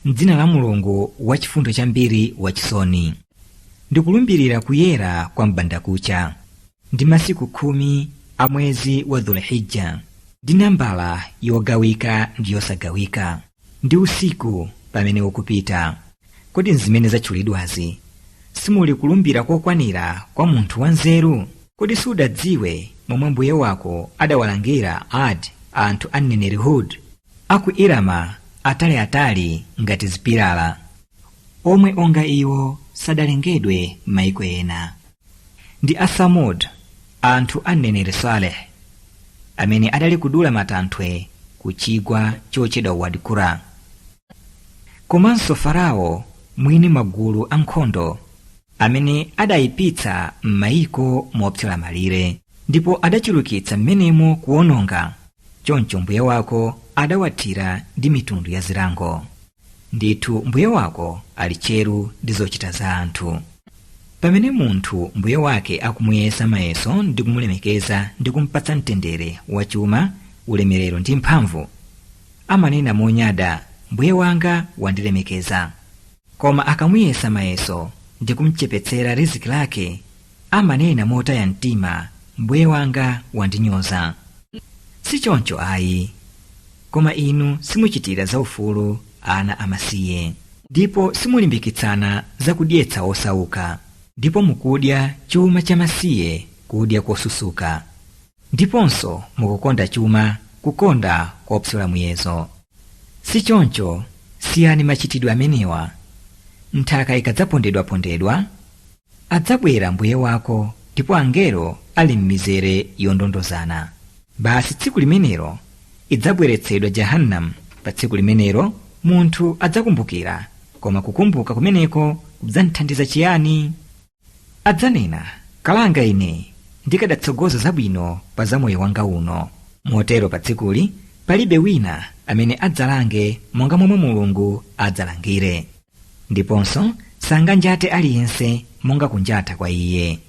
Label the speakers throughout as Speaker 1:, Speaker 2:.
Speaker 1: m'dzina la mulungu wachifundo chambiri wachisoni ndikulumbirira kuyera kwa m'bandakucha ndi masiku khumi a mwezi wa dhulhijja ndi nambala yogawika ndi yosagawika ndi usiku pamene ukupita kodi m'zimene zatchulidwazi simuli kulumbira kokwanira kwa munthu wanzeru kodi sudadziwe momwe mbuye wako adawalangira ad anthu a mneneri hud a ku Irama ataliatali ngati zipilala, omwe onga iwo sadalengedwe m'maiko ena. Ndi a Samud, anthu a mneneri Saleh, amene adali kudula matanthwe ku chigwa chotchedwa Wad Qura. Komanso Farao mwini magulu a nkhondo amene adaipitsa m'maiko mopyola malire, ndipo adachulukitsa m'menemo kuononga. choncho mbuye wako adawathira ndi mitundu ya zilango ndithu mbuye wako ali tcheru ndi zochita za anthu pamene munthu mbuye wake akumuyesa mayeso ndi kumulemekeza ndi kumpatsa mtendere wachuma ulemerero ndi mphamvu amanena monyada mbuye wanga wandilemekeza koma akamuyesa mayeso ndi kumchepetsera riziki lake amanena motaya mtima mbuye wanga wandinyoza si choncho ayi koma inu simuchitira zaufulu ana amasiye ndipo simulimbikitsana zakudyetsa osauka ndipo mukudya chuma cha masiye kudya kosusuka ndiponso mukukonda chuma kukonda kopyola muyezo si choncho siyani machitidwe amenewa nthaka ikadzapondedwapondedwa adzabwera mbuye wako ndipo angelo ali m'mizere yondondozana basi tsiku limenelo idzabweretsedwa jahannam pa tsiku limenelo munthu adzakumbukira koma kukumbuka kumeneko kudzamthandiza chiyani adzanena kalanga ine ndikadatsogoza zabwino pa za moyo wanga uno motero pa tsikuli palibe wina amene adzalange monga momwe mulungu adzalangire ndiponso sanganjate aliyense monga kunjata kwa iye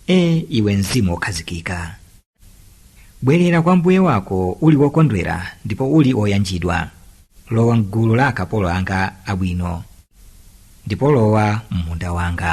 Speaker 1: e iwe mzimu wokhazikika bwerera kwa mbuye wako uli wokondwera ndipo uli woyanjidwa lowa m'gulu la akapolo anga abwino ndipo lowa m'munda wanga